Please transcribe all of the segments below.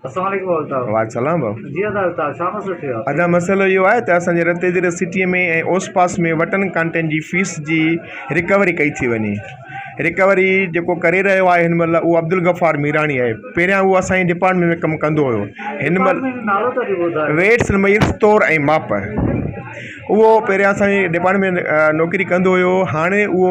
اسلام عليڪم ڀاء الطاف. وعليڪم سلام ڀاء. جي ادا الطاف ڇا مسئلو ٿيو آهي. ادا مسئلو اهو آهي ته اسان جي رت ايڌر سٽي ۾ ۽ اوس پاس ۾ وٽن ڪانٽين جي فيس جي رڪوري ڪئي ٿي وڃي رڪوري جيڪو ڪري رهيو آهي هن مهل اهو عبدالغفار ميراڻي آهي پهريان اهو اسان جي ڊپارٽمينٽ ۾ ڪم ڪندو هيو هن مهل نالو ته اچي ٻڌاء ويٽس ميلس تور ۽ ماپ اهو پهريان اسان جي ڊپارٽمينٽ ۾ نوڪري ڪندو هيو هاڻي اهو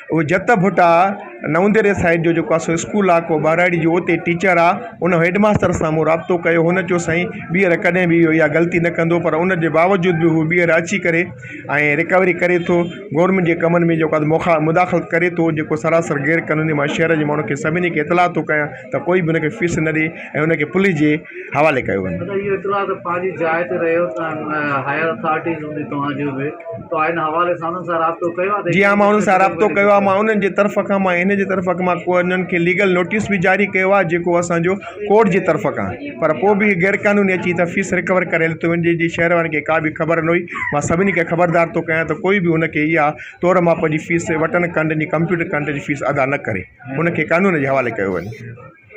اهو جت ڀٽ آ نونديري سائيڊ جو جيڪو اسو اسڪول آ ڪو ٻهراڙي جو اتي ٽيچر آ ان هيڊ ماستر سان مون رابطو ڪيو هن چيو سائين ٻيهر ڪڏهن به اهو اها غلطي نه ڪندو پر ان جي باوجود به هو ٻيهر اچي ڪري ۽ رڪوري ڪري ٿو گورنمينٽ جي ڪمن ۾ جيڪو آ مخا مداخلت ڪري ٿو جيڪو سراسر غير قانوني مانا شهر جي ماڻهو کي سڀني کي اطلاع ٿو ڪيان ته ڪوئي به ان کي فيس نه ڏي ۽ ان کي پوليس جي حوالي ڪيو وڃي. مطلب اهو اطلاع ته پنهنجي جاء تي رهيو ته هائير اٿارٽيز هوندي توهان جون به توهان هن حوالي سان انهن سان رابطو ڪيو آهي ته جي ها مان انهن سان رابطو ڪيو آهي مان انهن جي طرف کان مان ان جي طرف کان مان ڪو انهن کي ليگل نوٽيس به جاري ڪيو آهي جيڪو اسانجو ڪورٽ جي طرف کان پر پوء به غير قانوني اچي هتان فيس رڪور ڪري لٿو وڃي جنهنجي شهر وارن کي ڪا به خبر نه هئي مان سڀني کي خبردار ٿو ڪيان ته ڪوئي به ان کي اها تور ماپ جي فيس وٽن ڪنڊن جي ڪمپيوٽر ڪنڊ جي فيس ادا نه ڪري ان کي قانون جي حوالي ڪيو وڃي